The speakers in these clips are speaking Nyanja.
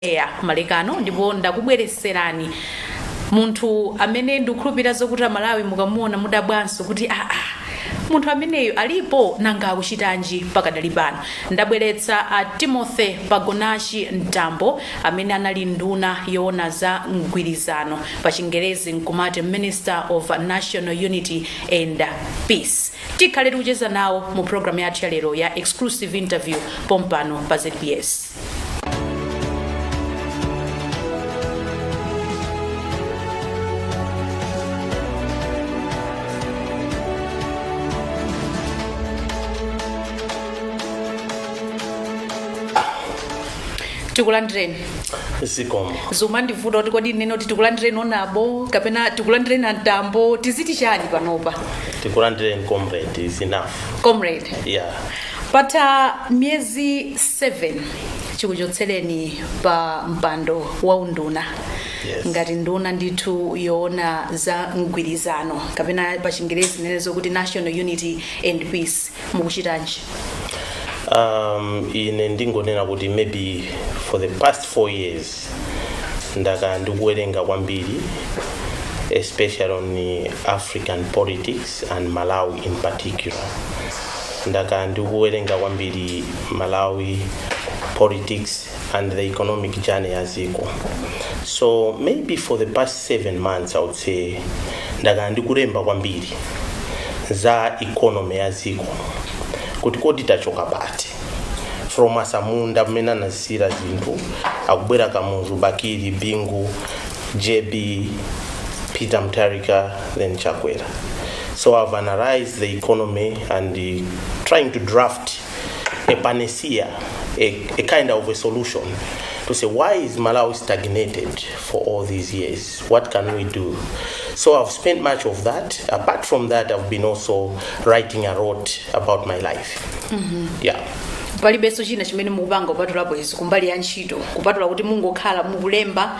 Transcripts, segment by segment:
eya malekano ndipo ndakubweretserani munthu amene ndikukhulupirira zokuti amalawi mukamuona mudabwanso kuti aa munthu ameneyu alipo nanga akuchitanji pakadali pano ndabweretsa a timothy pagonachi mtambo amene anali nduna yoona za mgwirizano pa chingerezi nkumati minister of national unity and peace tikhale tikucheza nawo mu programu yathu ya lero ya exclusive interview pompano pa zbs tikulandireni zikomo zimandivuta kuti kodi ndinene kuti tikulandireni honourable kapena tikulandireni a mtambo tiziti chani panopa tikulandireni comrade is enough comrade yeah Patha miyezi 7 chikuchotsereni pa mpando wa unduna Yes. ngati nduna ndithu yoona za mgwirizano kapena pa chingerezi ndinenenso kuti national unity and peace mukuchitanji um, ine ndingonena kuti maybe for the past four years ndakhala ndikuwerenga kwambiri especially on african politics and malawi in particular ndakhala ndikuwerenga kwambiri malawi politics and the economic journey ya dziko so maybe for the past seven months i would say ndakhala ndikulemba kwambiri za economy ya dziko kuti kodi tachoka pati from asamunda mmene anazisiyira zinthu akubwera kamuzu bakili bingu jb peter mutharika then chakwera So I've analyzed the economy and uh, trying to draft a panacea, a, a kind of a solution to say why is Malawi stagnated for all these years? What can we do? So I've spent much of that. Apart from that, I've been also writing a lot about my life. Yeah. palibenso china chimene mukupanga kupatulapo izi kumbali ya ntchito kupatula kuti mukungokhala mukulemba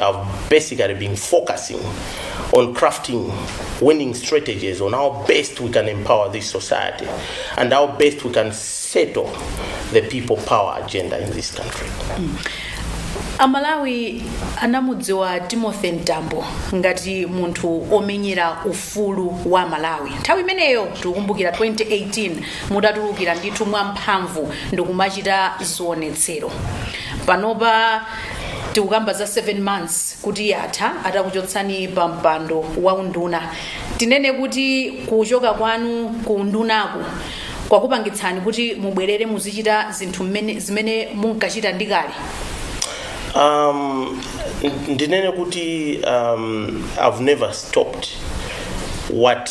have basically been focusing on crafting winning strategies on how best we can empower this society and how best we can settle the people power agenda in this country. amalawi anamudziwa timothy mtambo ngati munthu omenyera ufulu wa amalawi nthawi imeneyo tikukumbukira 2018 mudatulukira ndithu mwamphamvu ndikumachita zionetsero panopa tikukamba za 7 months kuti yatha atakuchotsani pa mpando wa unduna tinene kuti kuchoka kwanu ku undunaku kwakupangitsani kuti mubwerere muzichita zinthu mmene- zimene munkachita ndikale um, ndinene kuti um, i've never stopped what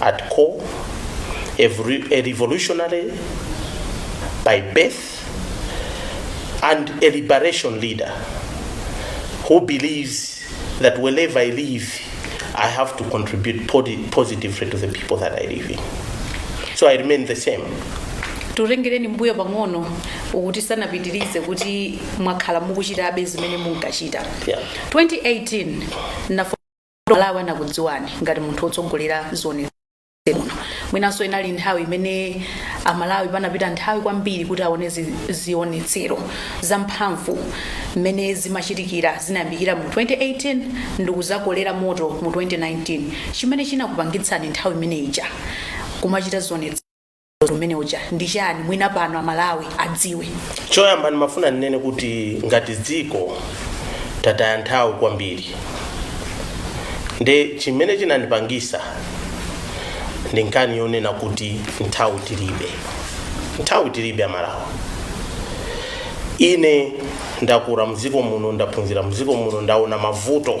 at core, a, volu- a revolutionary by birth, and a liberation leader who believes that wherever I live, I have to contribute podi- positively to the people that I live in. So I remain the same. tutengereni mbuyo pang'ono musanapitirize kuti mwakhala mukuchitabe zimene munkachita Yeah. 2018 nafo malawi anakudziwani ngati munthu wotsogolera zionetsero muno mwinanso inali nthawi imene amalawi panapita nthawi kwambiri kuti aone zi- zionetsero zamphamvu mmene zimachitikira zinayambikira mu 2018 ndikuzakolera moto mu 2019 chimene chinakupangitsani nthawi imene ija kumachita zionetsero zimene zija ndi chani mwina pano amalawi adziwe choyamba ndimafuna ndinene kuti ngati dziko tataya nthawi kwambiri nde chimene chinandipangisa ndi nkhani yonena kuti nthawi tilibe nthawi tilibe amalawi ine ndakura mdziko muno ndaphunzira mdziko muno ndaona mavuto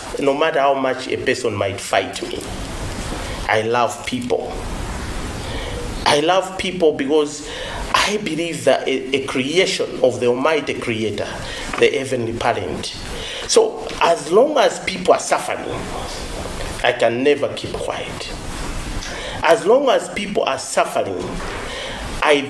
no matter how much a person might fight me i love people i love people because i believe that a, a creation of the almighty creator the heavenly parent so as long as people are suffering i can never keep quiet as long as people are suffering i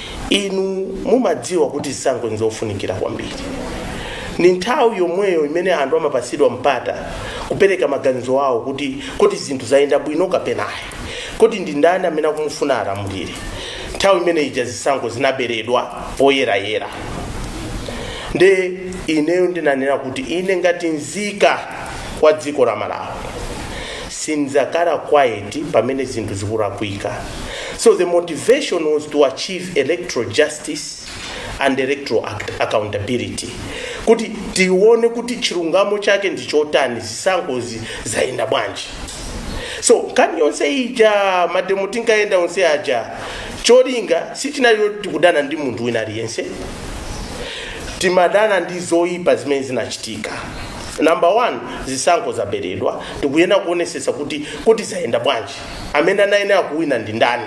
Inu mumadziwa kuti zisankho n'zofunikira kwambiri. Ndi nthawi yomweyo imene anthu amapatsidwa mpata kupereka maganizo awo kuti kodi zinthu zayenda bwino kapena ayi, kodi ndi ndani amene akumufuna alamulire. Nthawi imene ija zisankho zinaberedwa poyerayera. Nde ineyo ndinanena kuti ine ngati nzika ya dziko la Malawi, sindzakhala quiet pamene zinthu zikurakwika so the motivation was to achieve electoral justice and electoral accountability kuti tione kuti chilungamo chake ndi chotani zisankhozi zayenda bwanji so nkhani yonse ija mademo tinkayenda onse aja cholinga sichinali choti tikudana ndi munthu wina aliyense timadana ndi zoyipa zimene zinachitika number one zisankho zaberedwa tikuyenera kuonesesa kuti kuti zayenda bwanji amene anayenera kuwina ndi ndani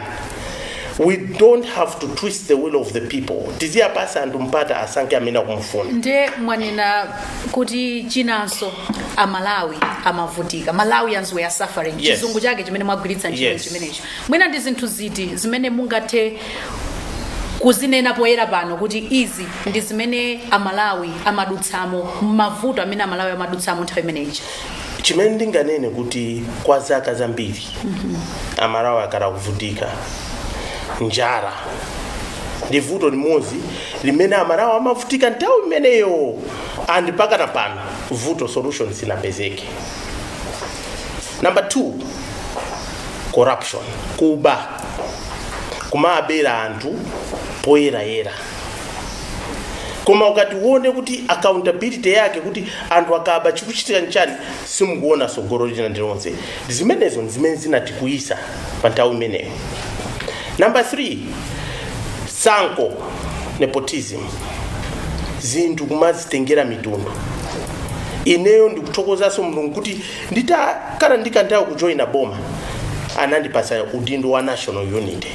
we don't have to twist the will of the people tiziyapasa anthu mpata asankhe amene akumufuna nde mwanena kuti chinanso amalawi amavutika malawians were suffering Yes. chizungu chake chimene mwagwiritsa ntchito Yes. chimenecho Mwina ndi zinthu ziti zimene mungathe kuzinena poyera pano kuti izi ndi zimene amalawi amadutsamo mavuto amene amalawi amadutsamo nthawi imeneyi chimene ndinganene kuti kwa zaka zambiri amalawi akhala kuvutika njala ndi vuto limodzi limene amalawi amavutika nthawi imeneyo and mpakana pano vuto solution sinapezeke namba 2 corruption kuba kumabera anthu poyerayera koma ukati uone kuti accountability yake kuti anthu akaba chikuchitika nchani simukuona tsogolo lina lililonse zimenezo ndi zimene zinatikwiyitsa pa nthawi imeneyo namba 3 tsankho nepotism zinthu kumazitengera mitundu ineyo ndikuthokozanso mulungu kuti nditakhala ndi kanthawi kujoyina boma anandipatsa udindo wa national unity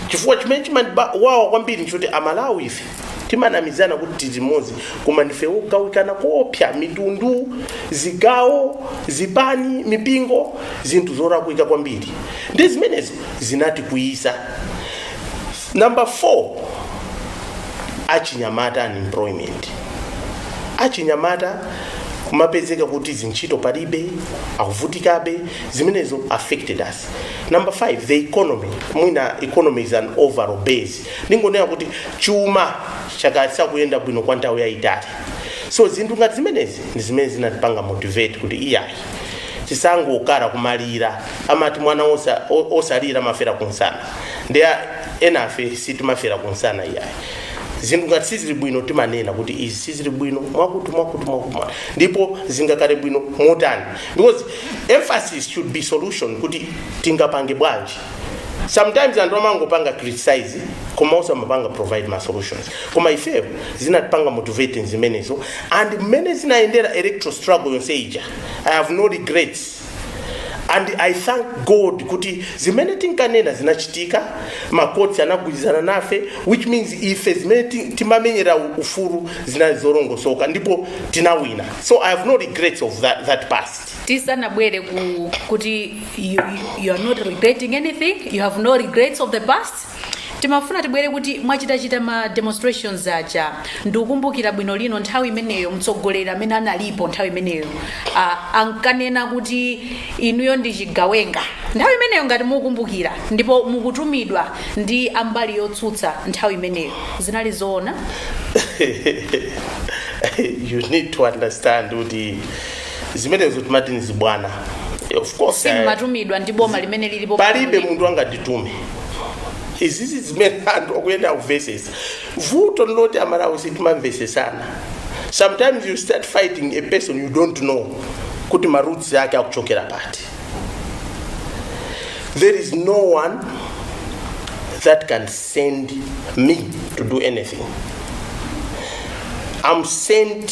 chifukwa chimene chimandiwawa kwambiri nchoti amalawi ife timanamizana kuti ndife amodzi koma ndife ogawikana koopsa mitundu zigawo zipani mipingo zinthu zolakwika kwambiri nde zimenezo zinatikwiyitsa Number 4 achinyamata unemployment achinyamata kumapezeka kuti zintchito palibe akuvutikabe zimenezo affected us number 5 the economy mwina economy is an overall base ndingonena kuti chuma chakhala chisakuyenda bwino kwa nthawi yayitali so zinthu ngati zimenezi ndi zimene zinatipanga motivate kuti iyayi tisangokhala kumalira amati mwana osa- o- osalira amafera kumsana nde a- enafe sitimafera kumsana iyayi zinthu ngati sizili bwino timanena kuti izi sizili bwino mwakuti mwakuti mwakuti mwa- ndipo zingakhale bwino motani because emphasis should be solution kuti tingapange bwanji sometimes anthu amangopanga criticize koma osamapanga provide ma solutions koma ifeyo zinatipanga motivate zimenezo and mmene zinayendera electoral struggle yonse ija i have no regrets and i thank god kuti zimene tinkanena zinachitika makhoti anagwirizana nafe which means ife zimene ti- timamenyera u- ufulu zinali zolongosoka ndipo tinawina so i have no regrets of that, that past tisanabwere ku kuti you, you- you are not regretting anything you have no regrets of the past timafuna tibwere kuti mwachitachita ma demonstrations aja ndikukumbukira bwino lino nthawi imeneyo mtsogoleri amene analipo nthawi imeneyo ah, ankanena kuti inuyo ndi chigawenga nthawi imeneyo ngati mukukumbukira ndipo mukutumidwa ndi a mbali yotsutsa nthawi imeneyo zinali zoona you need to understand kuti zimenezo timati ni zibwana of course eh, simumatumidwa ndi boma limene lilipo palibe munthu angatitume izizi zimene anthu akuyenda akuvesesa vuto ndiloti amalawi sitimamvesesana sometimes you start fighting a person you don't know kuti maroots ake akuchokera pati there is no one that can send me to do anything i'm sent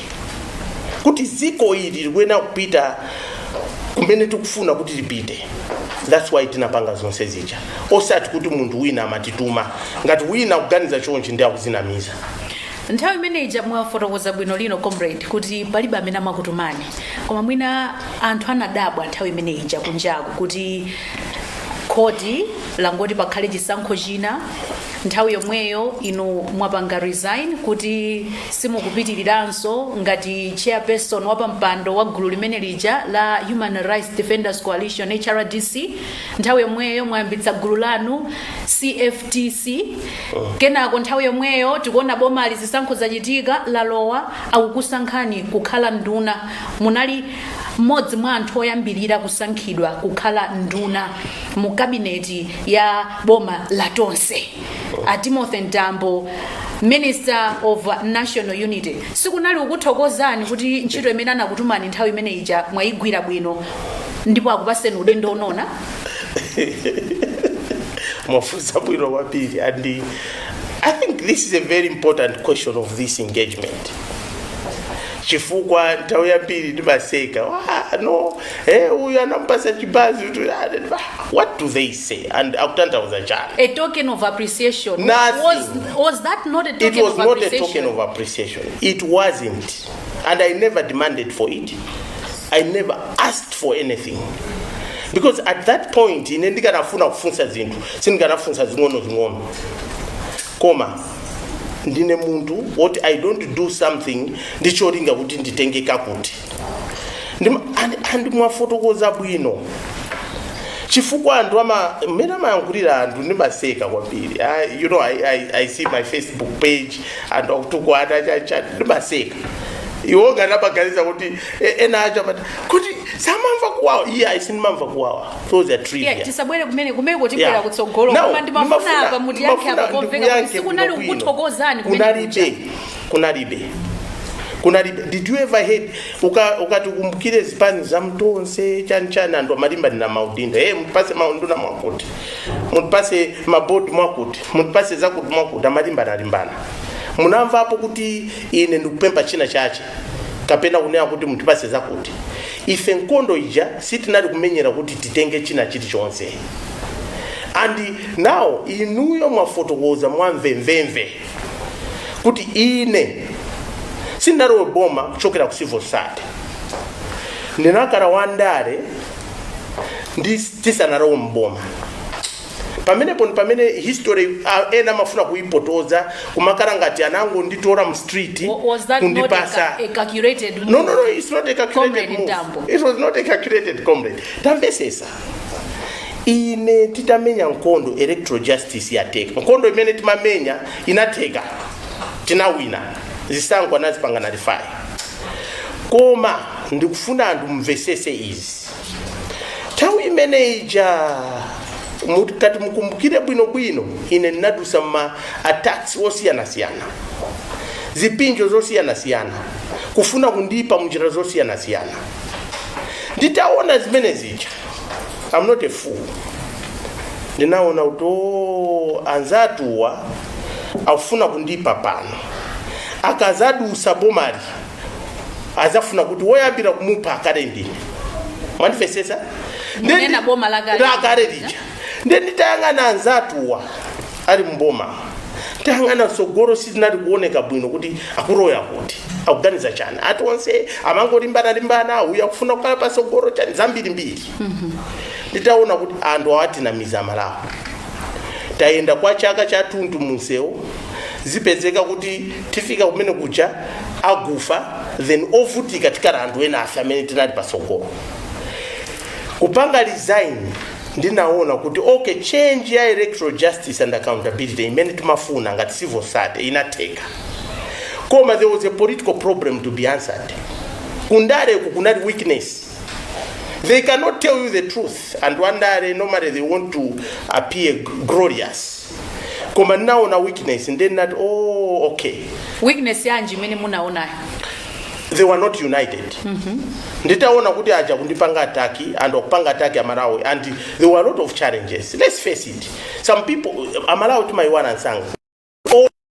kuti dziko ili likuyenera kupita kumene tikufuna kuti lipite that's why tinapanga zonse zija osati kuti munthu wina amatituma ngati wina akuganiza chonchi ndi akuzinamiza nthawi imene ija mwafotokoza bwino lomwe comrade kuti palibe amene amakutumani koma mwina anthu anadabwa nthawi imene ija kunjaku kuti khoti langoti pakhale chisankho china nthawi yomweyo inu mwapanga resign kuti simukupitiriranso ngati chairperson wa pampando wa gulu limene lija la human rights defenders coalition hrdc nthawi yomweyo mwayambitsa gulu lanu cftc kenako nthawi yomweyo tikuona bomali zisankho zachitika lalowa akukusankhani kukhala nduna munali mmodzi mwa anthu oyambirira kusankhidwa kukhala nduna mu kabineti ya boma la tonse a timothy mtambo minister of national unity sikunali kukuthokozani kuti ntchito imene anakutumani nthawi imene ija mwayigwira bwino ndipo akupaseni udindo wa unduna mwafunsa bwino kwambiri and uh, i think this is a very important question of this engagement chifukwa nthawi yambiri ndimaseka "Ah, no Eh, uyu anamupasa chibanzi kuti ah, ah, what do they say and akutanthauza chani a token of appreciation Nothing. was, was that not a token of appreciation it was not a token of appreciation it wasn't and i never demanded for it i never asked for anything because at that point ine ndikanafuna kufunsa zinthu sindikanafunsa zing'onozing'ono koma ndine munthu woti i don't do something ndicholinga kuti nditenge kakuti and mwafotokoza bwino chifukwa anthu ama mmene amayankhulira anthu ndimaseka kwambiri you know I, I, i see my facebook page anthu akutukwana chacha ndimaseka iwo ngati amaganiza kuti ena amati kodi samamva kuwawa iye yeah, ayi sindimamva kuwawa those are trivia yeah, tisabwere kumene kumeneko tibwera yeah. kutsogolo koma ndimafuna apa mutiyankhe apa komveka kuti sikunali kukuthokozani kumene kunalipo kunalibe kunalibe did you ever heard uka- ukati ukumbukire zipani za mtonse chani chani anthu amalimba ndi maudindo e mutipase maunduna mwakuti mutipase mabodi mwakuti mutipase zakuti mwakuti amalimbana alimbana munamvapo kuti ine ndikupempa china chache kapena kunena kuti mutipase zakuti ife nkondo ija sitinali kumenyera kuti titenge china chilichonse and now inuyo mwafotokoza mwamvemvemve kuti ine sindinalowe boma kuchokera ku civil society ndinakhala wandale ndisanalowe mboma pamenepo ndi pamene history ah, ena amafuna kuipotoza kumakhala ngati anango nditora mu street Wa- was that not a, kundipasa ca- a calculated move? No, no, no, it's not a calculated Comrade move. Mtambo. It was not a calculated comrade. Tamvesesa. ine titamenya nkondo electoral justice yateka nkondo imene timamenya inateka tinawina zisankho anazipanga nalifai koma ndikufuna anthu amvesese izi nthawi imene ija mukati mukumbukire bwinobwino ine ndinadusa ma attacks osiyanasiyana zipinjo zosiyanasiyana kufuna kundipa munjira zosiyanasiyana nditaona zimene zija i'm not a fool ndinaona kuti "Oh, anzatuwa akufuna kundipa pano akazadusa bomali azafuna kuti woyambira kumupha akale ndine mwandimvesesa Ndinena boma la kale. lakale lija ndiye nditayang'ana anzatuwa ali mboma tayang'ana mtsogolo sizinali kuoneka bwino kuti akuloza kuti akuganiza chani ati onse amangolimbana-limbana uyu akufuna kukhala patsogolo chani zambirimbiri nditaona kuti anthu awatinamiza Amalawi tayenda kwa chaka chathunthu munsewu zipezeka kuti tifika kumene kuja agufa then ovutika tikakhala anthu ena ife amene tinali patsogolo kupanga resign ndinaona kuti ok change ya electoral justice and accountability imene timafuna ngati civil society inatheka koma there was a political problem to be answered kundareku kunali weakness they cannot tell you the truth and wandare normally they want to appear glorious koma ndinaona weakness ndiye ndinati oh okay weakness yanji imene munaonayo they were not united nditaona kuti aja kundipanga ataki and akupanga ataki amalawi and there were a lot of challenges let's face it some people amalawi timayiwala nsanga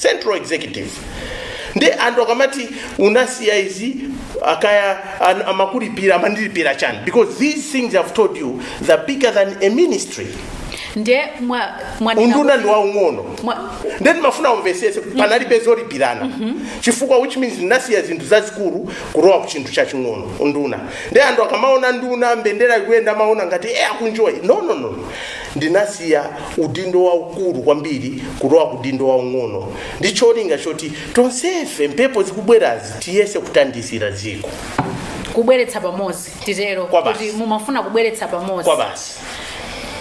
central executive nde anthu akamati unasiya izi akaya an- amakulipira amandilipira chani because these things i've told you they're bigger than a ministry nde mwa mwanena unduna kuti- ndi waung'ono mwa- nde ndimafuna umvesese panalibe zolipirana chifukwa which means ndinasiya zinthu zazikulu kulowa ku chinthu chaching'ono unduna nde anthu akamaona nduna mbendera ikuyenda amaona ngati e akunjoya no no no ndinasiya udindo waukulu kwambiri kulowa kudindo waung'ono ndi cholinga choti tonsefe mphepo zikubwerazi tiyese kuthandizira dziko kubweretsa pamodzi titero kuti mumafuna kubweretsa pamodzi kwa basi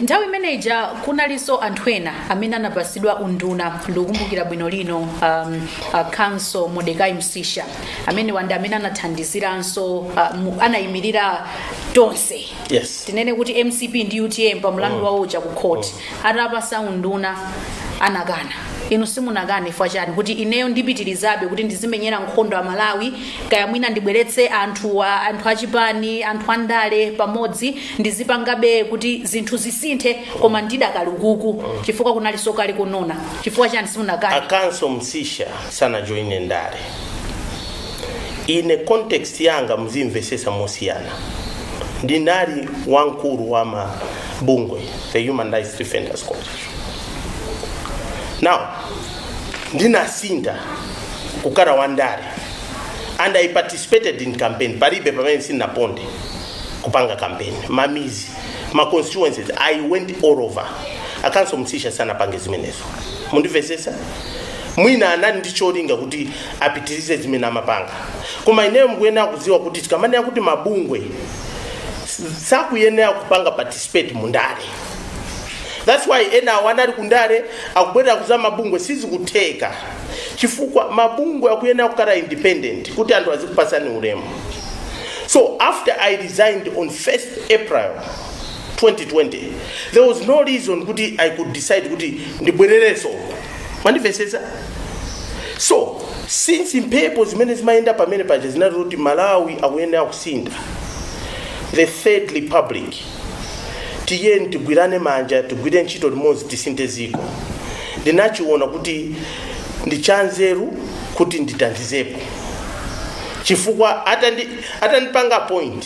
nthawi imene ija kunalinso anthu ena amene anapasidwa unduna ndikukumbukira bwino lino um, uh, counsel modecai msisha amene wanda amene anathandiziranso uh, mu- anayimirira tonse yes tinene kuti mcp ndi utm pa mlandu wawo uja ku court atapasa unduna anakana inu simunakane chifukwa chani kuti ineyo ndipitirizabe kuti ndizimenyera nkhondo a malawi kaya mwina ndibweretse anthu wa- anthu achipani anthu andale pamodzi ndizipangabe kuti zinthu zisinthe koma ndidakali ukuku chifukwa kunali sokali kunona chifukwa chani simunakane a counsel msisha sanajoine ndale ine context yanga muzimvesesa mosiyana ndinali wamkulu wa ma bungwe the human rights defenders coalition now ndinasintha kukhala wandale and i participated in campaign palibe pamene sinaponde kupanga campaign mamizi ma constituencies i went all over a counsel msisha sanapange zimenezo mundimvesesa mwina anali ndi cholinga kuti apitirize zimene amapanga koma ineyo mukuyenera kudziwa kuti tikamanena kuti mabungwe s- sakuyenera kupanga participate mu ndale that's why ena awo anali kundale akubwerera ku za mabungwe sizikutheka chifukwa mabungwe akuyenera kukhala independent kuti anthu azikupasani ulemu so after i resigned on 1st april 2020 there was no reason kuti i could decide kuti ndibwerereso mwandimvetsetsa so since mphepo zimene zimayenda pamene paja zinati kuti malawi akuyenera kusintha the third republic tiyeni tigwirane manja tigwire ntchito limodzi tisinthe ziko ndinachiona kuti ndi chanzeru kuti ndithandizepo chifukwa atandi- atandipanga appoint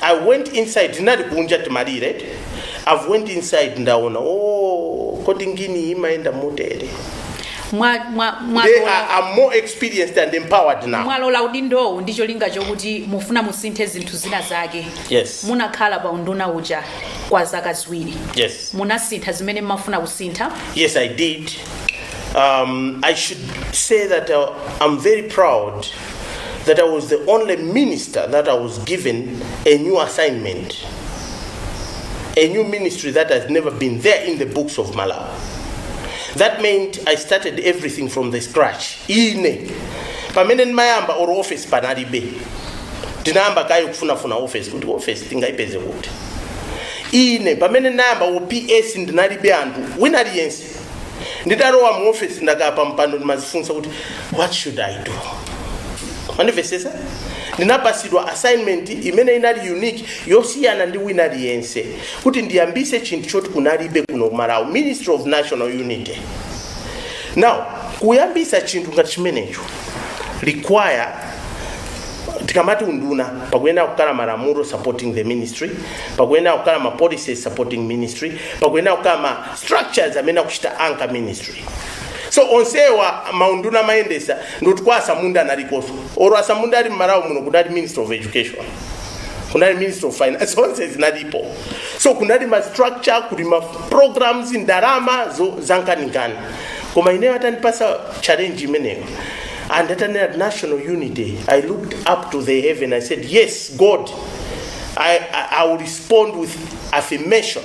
i went inside tinali kunja timalira i've went inside ndaona oh kodi ngini imayenda motere Mwa- mwa- they mwalola- are, are more experienced and empowered now mwalola udindowu ndi cholinga chokuti mufuna musinthe zinthu zina zake yes munakhala pa unduna uja kwa zaka ziwiri yes munasintha zimene mmafuna kusintha Yes, I did. Um, I should say that uh, I'm very proud that I was the only minister that I was given a new assignment, a new ministry that has never been there in the books of Malawi. That meant I started everything from the scratch. Ine pamene ndimayamba or office panalibe ndinayamba kaye kufunafuna office kuti office tingaipeze kuti ine pamene ndinayamba or PS ndinalibe anthu wina aliyense nditalowa mu ofesi ndakhala pa mpando ndimazifunsa kuti what should i do mundimvesese ndinapasidwa assignment imene inali unique yosiyana ndi wina aliyense kuti ndiyambise chinthu choti kunalibe kuno kumalawi ministry of national unity now kuyambisa chinthu ngati chimenecho require tikamati unduna pakuyenera kukhala malamulo supporting the ministry pakuyenera kukhala ma policies supporting ministry pakuyenera kukhala ma structures amene akuchita anchor ministry so onsewa maunduna amayendesa ndi oti kwa asamunda analikoso oro asamunda ali mmalawi muno kudali minister of education kunali minister of finance zonse zinalipo so kunali ma structure kuli ma programs ndalama zo- zankaninkani koma ineyo atandipasa challenge imeneyo and atanena national unity i looked up to the heaven i said yes god i, I, I will respond with affirmation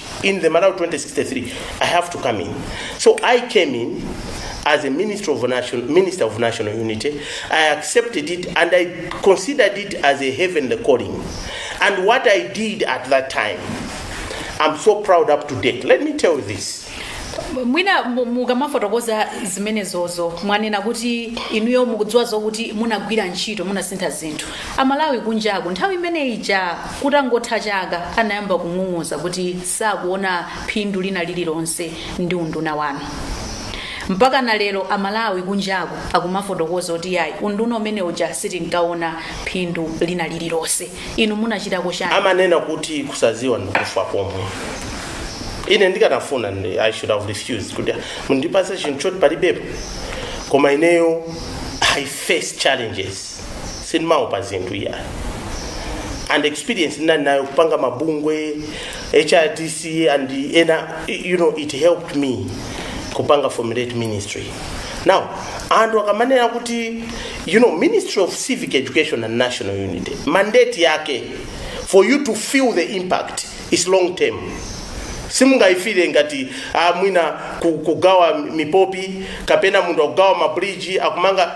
in the Malawi 2063, I have to come in. So I came in as a minister of national unity. I accepted it and I considered it as a heavenly calling. And what I did at that time, I'm so proud up to date. Let me tell you this. mwina mu- mukamafotokoza zimenezozo mwanena kuti inuyo mukudziwa zokuti munagwira ntchito munasintha zinthu amalawi kunjaku nthawi imene ija Kutangotha chaka anayamba kung'ung'uza kuti sakuona phindu lina lililonse ndi unduna wanu. Mpakana lero a Malawi kunjaku akumafotokoza kuti yayi unduna umene uja sitinkaona phindu lina lililonse. Inu munachitako chani? Amanena kuti kusaziwa ndikufa komwe. Ine ndikanafuna I should have refused kuti mundipase chinthu choti palibepo. Koma ineyo I face challenges. sindimaopa zinthu iya and experience ndinali nayo kupanga mabungwe hrdc and ena it helped me kupanga formulate ministry now anthu akamanena kuti you know ministry of civic education and national unity mandate yake for you to feel the impact is long term simungayifire ngati ah, mwina ku- kugawa mipopi kapena munthu akugawa mabridge akumanga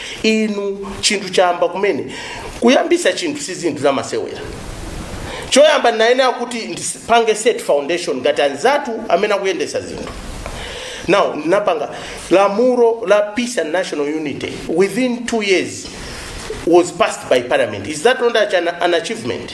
inu chinthu chayamba kumene kuyambisa chinthu si zinthu zamasewera choyamba ndinayenera kuti ndipange set foundation ngati anzathu amene akuyendesa zinthu now ndinapanga lamulo la peace and national unity within two years was passed by parliament is that not an, an achievement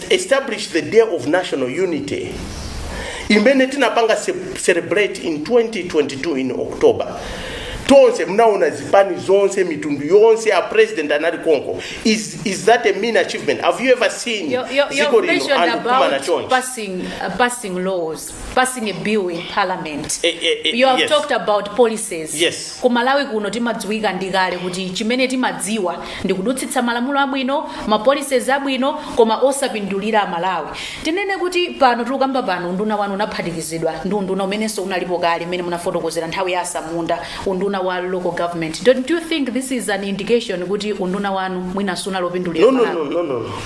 establish the day of national unity imene tinapanga ce- celebrate in 2022 in october tonse mnaona zipani zonse mitundu yonse a president anali konko is, is that a mean achievement have you ever seen You're, you're, dziko you're lino mentioned anthu kumana about chonchi passing, uh, passing laws. passing a bill in parliament Eh, eh, eh, you have yes. talked about policies Yes. ku malawi kuno timadziwika ndi kale kuti chimene timadziwa ndi kudutsitsa malamulo abwino ma policies abwino koma osapindulira amalawi tinene kuti pano tikukamba pano unduna wanu unaphatikizidwa ndi unduna umenenso unalipo kale mmene munafotokozera nthawi ya asamunda unduna wa local government don't you think this is an indication kuti unduna wanu mwinanso sunawapindulire no no amalawi no no no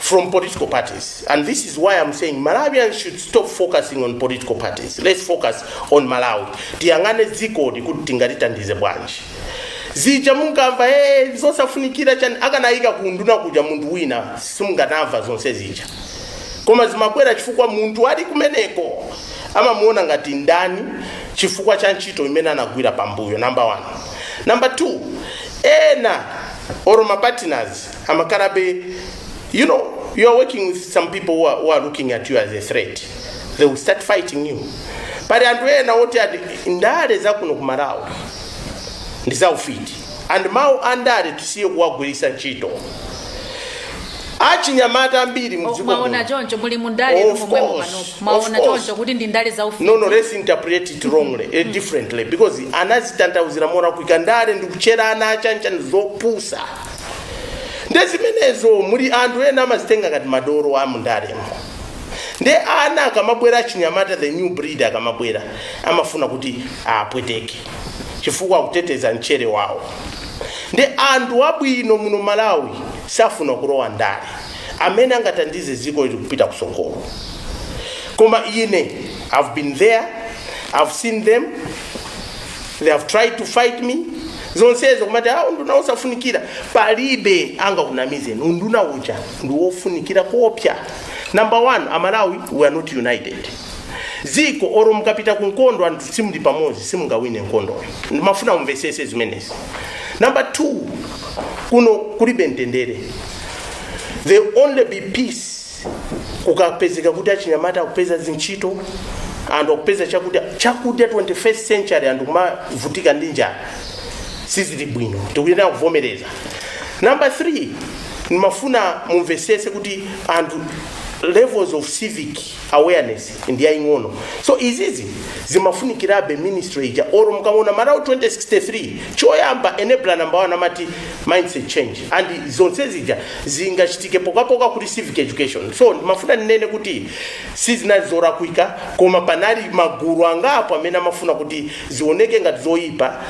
from political parties. And this is why I'm saying Malawians should stop focusing on political parties. Let's focus on Malawi. Tiyang'ane dziko kuti tingalitandize bwanji. zija mungamva hey, zosafunikira chani akanayika kunduna kuja munthu wina simukanamva zonse zija koma zimakwera chifukwa munthu ali kumeneko amamuona ngati ndani chifukwa cha ntchito imene anagwira pambuyo number one number two ena or mapartiners amakhalabe you know you are working with some people who are, who are looking at you as a threat they will start fighting you pali anthu ena oti ati ndale zakuno ku malawi ndi zaufiti and mawu a ndale tisiye kuwagwiritsa ntchito achinyamata ambiri mdziko mwaona muno- choncho muli mundale Of momwe course, mukanopo of mwaona course. choncho kuti ndi ndale za ufiti no no let's interpret it wrongly eh, differently because anazitanthauzira molakwika ndale ndi kutchera ana achanjani zopusa nde zimenezo muli anthu ena amazitenga ngati madoro a mundalemo nde ana akamabwera achinyamata the new breed akamabwera amafuna kuti awapweteke chifukwa akuteteza mchere wawo nde anthu abwino muno malawi safuna kulowa ndale amene angatandize ziko ili kupita kusogolo koma ine i've been there i've seen them they have tried to fight me zonsezo kumati ah unduna wosafunikira palibe angakunamize unduna uja ndi wofunikira koopsa number one amalawi we are not united ziko oro mukapita ku nkhondo anthu simuli pamodzi simungawine nkhondoyo ndimafuna mumvesese zimenezi number two kuno kulibe mtendere there only be peace kukapezeka kuti achinyamata akupeza zintchito anthu akupeza chakudya chakudya 21st century anthu kumavutika ndi njala sizili bwino tikuyenera kuvomereza number 3 ndimafuna mumvesese kuti a levels of civic awareness ndiyaing'ono so izizi zimafunikirabe ministry ija oro mukaona malawi 2063 choyamba enabler number one amati mindset change and zonse zija zingachitike pokapoka kuli civic education so ndimafuna ndinene kuti sizinali zorakwika koma panali magulu angapo amene amafuna kuti zioneke ngati zoyipa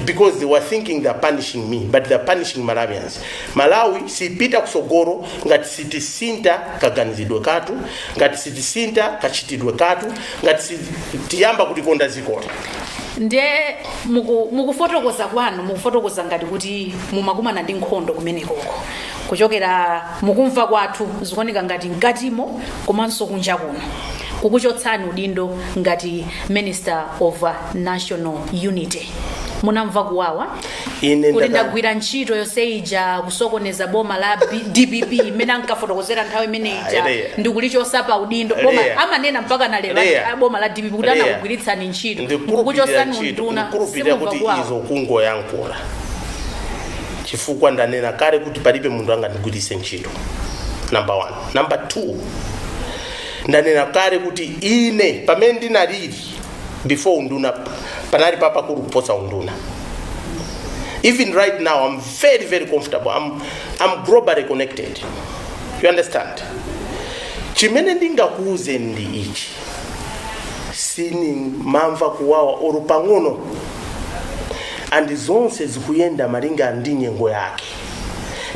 because they were thinking they're punishing me but they're punishing malawians malawi sipita kusogoro ngati sitisinta kaganizidwe katu ngati sitisinta kachitidwe katu ngati sitiyamba kukonda ziko latu nde muku- mukufotokoza kwanu mukufotokoza ngati kuti mumakumana ndi nkhondo kumenekoko kuchokera mukumva kwathu zikuoneka ngati mkatimo komanso kunja kuno kukuchotsani udindo ngati minister of uh, national unity munamva kuwawa kuti ndaka- ndagwira ntchito yonse ija kusokoneza boma la B- dpp imene ankafotokozera nthawi imene ija ndikulichosa pa udindo boma amanena mpaka na lero a- boma la dpp kuti anakugwiritsani ntchito ndikukuchosani unduna ndikukuchosani simumva kuwawa izo kungoyankhula chifukwa ndanena kale kuti palibe munthu angandigwiritse ntchito number one number two ndanena kale kuti ine pamene ndinalili before unduna panali papakulu kuposa unduna even right now i'm very very comfortable i'm, I'm globally connected you understand chimene ndingakuuzeni ndi ichi sinimamva kuwawa oro pang'ono and zonse zikuyenda malinga ndi nyengo yake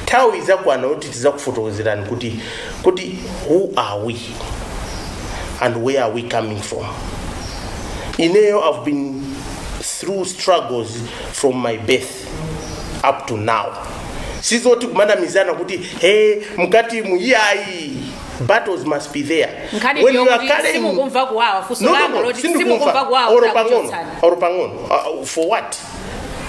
nthawi idzakwana kuti tidzakufotokozerani kuti kuti who are we and where are we coming from ineyo i've been through struggles from my birth up to now sizoti kumanamizana kuti hey mkati mu iyayi battles must be there nkhani When ndiyo you are kuti carrying- simukumva kuwawa funso No, no, langa no, loti simukumva sindikumva kuwawa Oro pang'ono, kukuchotsani. oro pang'ono. Uh, for what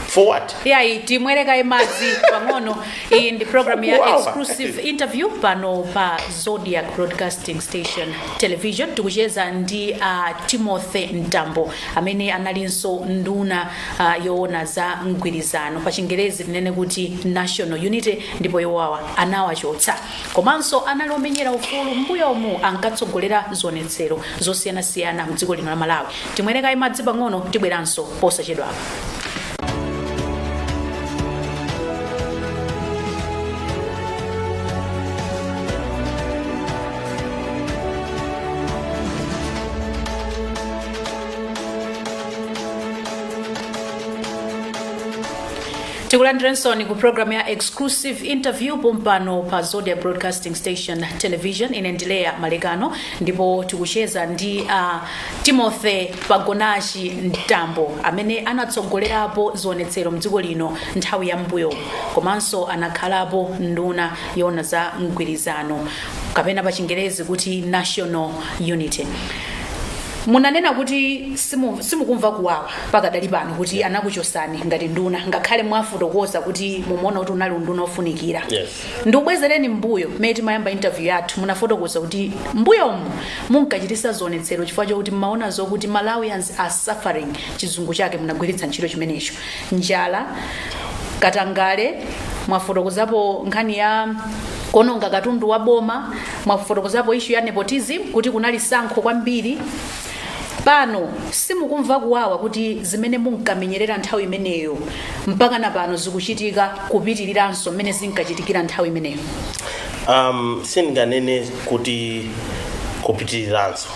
for what iyayi timwere kaye madzi pang'ono iyi ndi programu ya exclusive interview pano pa zodiak broadcasting station television tikucheza ndi uh, timothy mtambo amene analinso nduna uh, yoona za mgwirizano pa chingerezi tinene kuti national unity ndipo iwowa anawachotsa komanso anali omenyera ufulu mbuyomu ankatsogolera zionetsero zosiyanasiyana mdziko lino la malawi timwere kaye madzi pang'ono tibweranso posachedwapa tikulandirensoni ku programu ya exclusive interview pompano pa Zodiak Broadcasting Station Television ine ndi Leah Malekano ndipo tikucheza ndi uh, Timothy Pagonachi Mtambo amene anatsogolerapo zionetsero mdziko lino nthawi ya m'mbuyomu komanso anakhalapo nduna yoona za mgwirizano kapena pa chingerezi kuti National Unity. Munanena kuti simu, simukumva kuwawa pakadali pano kuti anakuchotsani ngati nduna ngakhale mwafotokoza kuti mumaona kuti unali unduna ofunikira. Yes. Ndikubwezereni m'mbuyo mmene timayamba interview yathu munafotokoza kuti m'mbuyomu munkachitisa zionetsero chifukwa chokuti mmaona zokuti Malawians are suffering chizungu chake munagwiritsa ntchito chimenecho njala, katangale, mwafotokozapo nkhani ya kuononga katundu wa boma, mwafotokozapo issue ya nepotism kuti kunali tsankho kwambiri. Pano simukumva kuwawa kuti zimene munkamenyerera nthawi imeneyo mpakana pano zikuchitika kupitiriranso mmene zinkachitikira nthawi imeneyo. um, sindinganene kuti kupitiriranso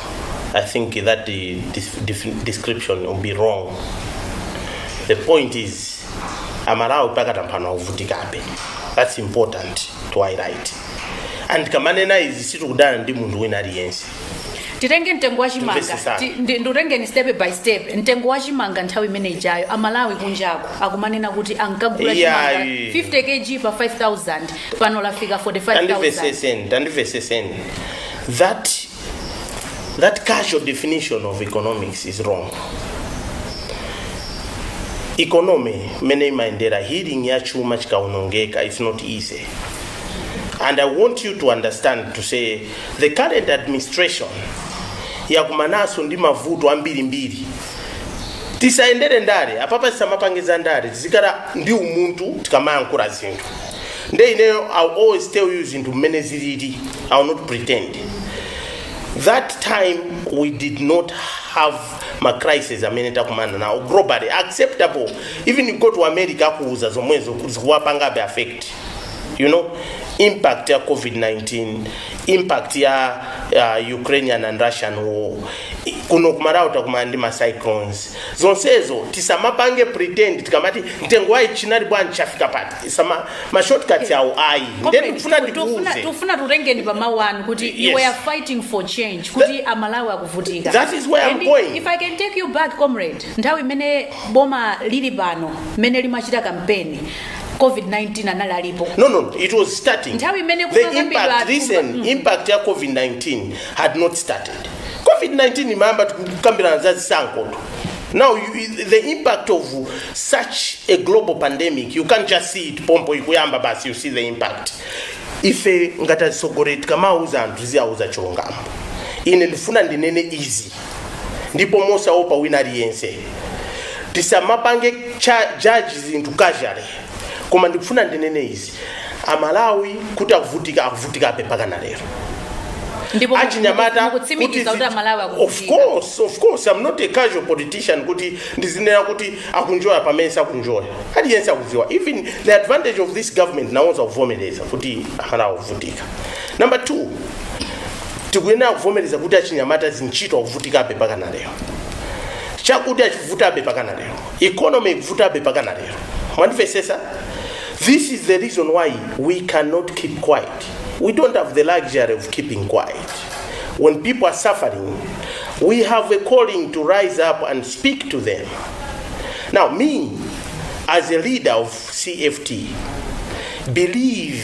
i think that the dis- dif- description will be wrong the point is amalawi pakadali pano akuvutikabe that's important to highlight and tikamanena izi sitikudana ndi munthu wina aliyense titenge mtengo wa chimanga Timvetsetsane. ti- ndi- ndikutengeni step by step mtengo wa chimanga nthawi imene ijayo amalawi kunjako akumanena kuti ankagula chimanga Iyayi. 50 kg pa 5000 pano lafika 45000 tandimvetsetseni tandimvetsetseni that that casual definition of economics is wrong economy mene imayendera healing ya chuma chikaonongeka it's not easy and i want you to understand to say The current administration yakumananso ndi mavuto ambirimbiri tisayendere ndale apapa tisamapange za ndale tizikhala ndi umunthu tikamayankhula zinthu nde ineyo I will always tell you zinthu mmene zilili i will not pretend that time we did not have ma crisis amene takumana nawo globally acceptable even you go to America akuuzani zomwezo zikuwapangabe affect you know impact ya covid-19 impact ya uh, ukrainian and russian war I- kuno kumalawi takumana ndi ma cyclones zonsezo tisamapange pretend tikamati mtengo wa ichi unali bwanji chafika pati tisama ma shortcuts awo ayi ndiye ndikufuna ndikuuze tufuna tikutengeni pamawu anu kuti Yes. you were fighting for change kuti amalawi akuvutika That is where I'm And going. if i can take you back comrade nthawi imene boma lili pano mmene limachita campaign covid-19 anali alipo No, no, it was starting. Nthawi imene the kumakambidwa impact, atumba- listen, impact ya COVID-19 had not started. COVID-19 imayamba tikukambirana za zisankho. Now, you, the impact of such a global pandemic, you can't just see it pompo ikuyamba basi, you see the impact. Ife ngati atsogoleri tikamauza anthu tiziwauza chilungamo. Ine ndifuna ndinene izi. ndipo mosaopa wina aliyense tisamapange cha- judge zinthu casually koma ndikufuna ndinene izi amalawi kuti akuvutika akuvutikabe mpaka na lero ndipo achinyamata mukutsimikiza kuti zi- amalawi of akuvutika course of course i'm not a casual politician kuti ndizinena kuti akunjoya pamene sakunjoya aliyense akudziwa even the advantage of this government nawonso akuvomereza kuti amalawi akuvutika number two tikuyenera kuvomereza kuti achinyamata zintchito akuvutikabe pakana lero chakudya chikuvutabe pakana lero economy ikuvutabe pakana lero mwandimvesesa this is the reason why we cannot keep quiet we don't have the luxury of keeping quiet when people are suffering we have a calling to rise up and speak to them now me as a leader of cft believe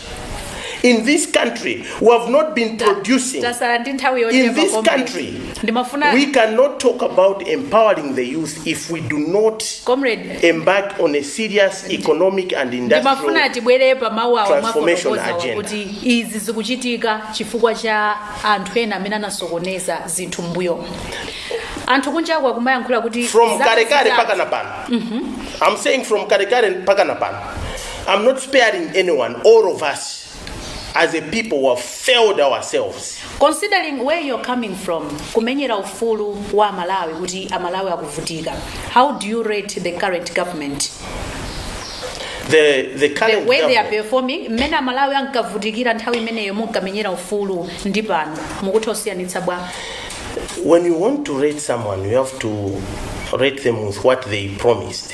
in this country we have not been producing tasala ndi nthawi in yochepa this comrade. country ndimafuna we cannot talk about empowering the youth if we do not comrade embark on a serious economic and ndimafuna industrial tibwere pa mawu awo Transformation mwafotokozawa agenda. kuti izi zikuchitika chifukwa cha anthu ena amene anasokoneza zinthu mbuyo anthu kunjaku akumayankhula kuti from zaka kalekale zitatu- mpaka na pano i'm saying from kalekale mpaka na pano am not sparing anyone all of us as a people we have failed ourselves Considering where you're coming from, kumenyera ufulu wa Amalawi kuti Amalawi akuvutika. How do you rate the current government? the, the The current way they are government- performing, mmene Amalawi ankavutikira nthawi imeneyo munkamenyera ufulu ndi pano mukutha kusiyanitsa bwa. when you want to rate someone you have to rate them with what they promised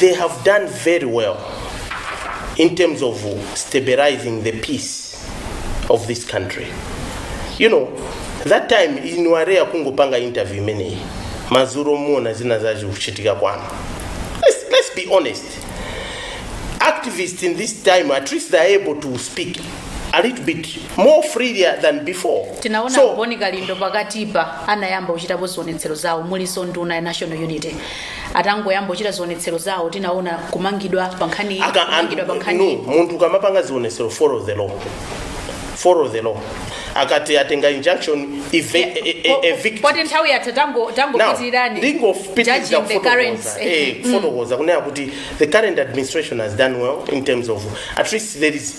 they have done very well in terms of stabilizing the peace of this country you know that time ine wa lero kungopanga interview imeneyi madzulo muona zinazake zikuchitika kwanu let's, let's be honest activists in this time at least they're able to speak a little bit more freer than before tinaona a Bon Kalindo pakatipa anayamba kuchitapo zionetsero zawo mulinso nduna ya national unity atangoyamba kuchita zionetsero zawo tinaona kumangidwa pa nkhani iyi, Aka- kumangidwa pa nkhani no, iyi. munthu ukamapanga zionetsero follow the law follow the law akati atenga injunction eve- Yeah, e- e- po- evict poti nthawi yatha tango- Now, tangopitirizani ndingopitiriza judging the current kufotokoza eh, kufotokoza kunena kuti the current administration has done well in terms of at least there is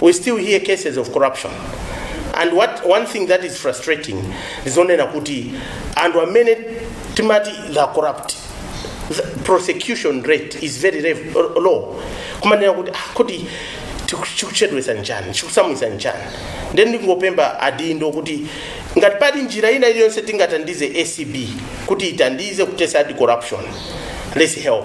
we still hear cases of corruption and what one thing that is frustrating ndizonena kuti anthu amene timati are corrupt the prosecution rate is very rev- low kumanena kuti ah, kuti chiku- chikuchedwesa nchani chikusamwisa nchani nde ndingopemba adindo kuti ngati pali njira ina iliyonse tingatandize acb kuti itandize kuthetsa corruption let's help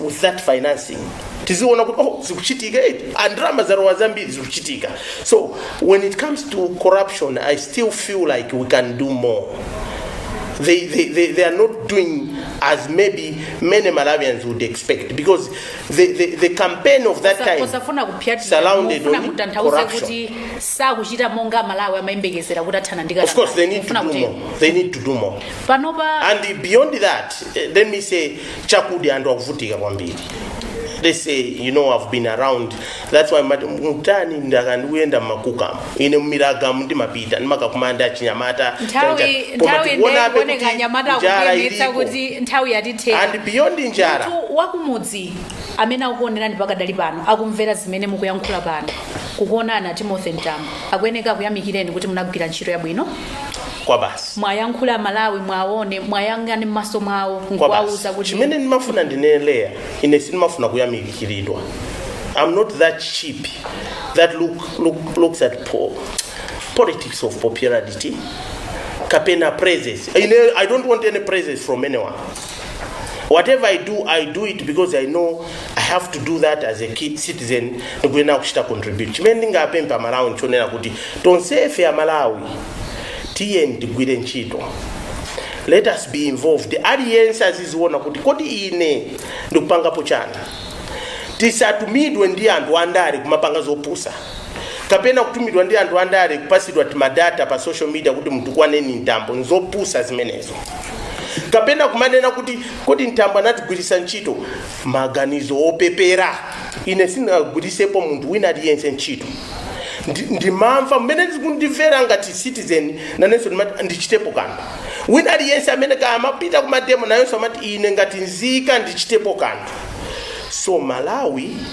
with that financing tiziona kuti oh zikuchitika eti ndalama zalowa zambiri zikuchitika so when it comes to corruption i still feel like we can do more they, they, they, they are not doing as maybe many malawians would expect because the, the, the campaign of that time osafuna kupitirira surrounded mufuna on kutanthauza corruption. kuti sakuchita monga amalawi amayembekezera kuti athana ndi Of course, they need to Kufuna do kuti- more. They need to do more. panopa And beyond that, eh, let me say, chakuti anthu akuvutika kwambiri. They say, you know, I've been around. That's why mati- mukandiona ndikuyenda mmakukamu. Ine mmiragamu ndimapita ndimakakumana ndi achinyamata. nthawi chanja- koma nthawi tikuonabe kuti ndekuoneka nyamata njala akukuyemetsa ilipo. kuti nthawi yatithera And beyond njala. munthu wakumudzi amene akukuonerani pakadali pano akumvera zimene mukuyankhula pano kukuonani a timothy mtambo akuyeneka akuyamikireni kuti munagwira ntchito yabwino kwabasi muwayankhule amalawi muwaone muwayang'ane m'maso mwawo kwa nkuwauza basi kuti chimene ndimafuna ndineneya ine sindimafuna kuyamikiridwa i'm not that cheap that look, look, looks at po, politics of popularity kapena praises ine i don't want any praises from anyone whatever i do i do it because i know i have to do that as a good citizen ndikuyenera kuchita contribute chimene ndingapemphe amalawi nchonena kuti tonsefe amalawi tiyeni tigwire ntchito let us be involved aliyense aziziona kuti kodi ine ndikupangapo chani tisatumidwe ndi anthu andale kumapanga zopusa kapena kutumidwa ndi anthu andale kupasidwa timadata pa social media kuti mutukwaneni mtambo nzopusa zimenezo kapena kumanena kuti kodi mtambo anatigwiritsa ntchito maganizo opepera ine sindinagwirisepo munthu wina aliyense ntchito Ndi- ndimamva mmene zikundimvekera ngati citizen nanenso ndimati ndichitepo kanthu wina aliyense amene kaya amapita kumademo nayenso amati ine ngati nzika ndichitepo kanthu so malawi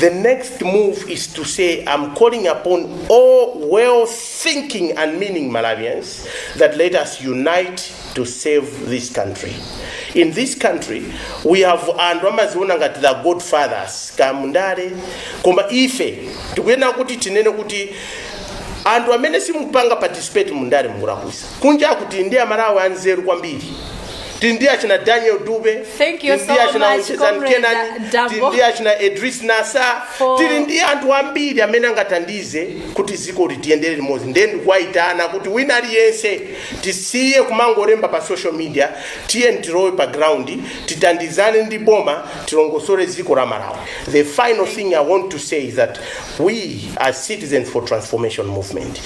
The next move is to say, I'm calling upon all well thinking and meaning Malawians that let us unite to save this country. In this country, we have anthu amaziona ngati the godfathers kamundale koma ife tikunena kuti tinene kuti anthu amene simupanga participate mundale mukulakwisa Kunjaku tili ndi amalawi anzeru kwambiri tili ndi achina Daniel Dube tili ndi achina Onjezani Kenani tili ndi achina Idriss Nassah tili ndi anthu ambiri amene angathandize kuti dziko ili tiyendere limodzi ndiye ndikuwayitana kuti wina aliyense tisiye kumangolemba pa social media tiye tilowe pa ground tithandizane ndi boma tilongosole dziko la Malawi the final thing i want to say is that we as citizens for transformation movement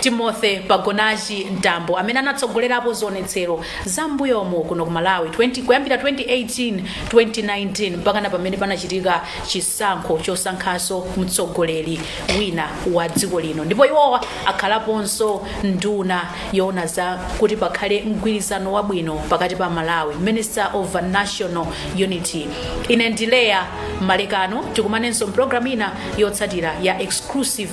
Timothy Pagonachi Mtambo amene anatsogolerapo zionetsero za m'mbuyomu kuno ku Malawi kuyambira 2018, 2019 mpakana pamene panachitika chisankho chosankhanso mtsogoleri wina wa dziko lino ndipo iwowa akhalaponso nduna yoona za kuti pakhale mgwirizano wabwino pakati pa Amalawi, Minister of National Unity. Ine ndi Leah Malekano tikumanenso mpulogalamu ina yotsatira ya exclusive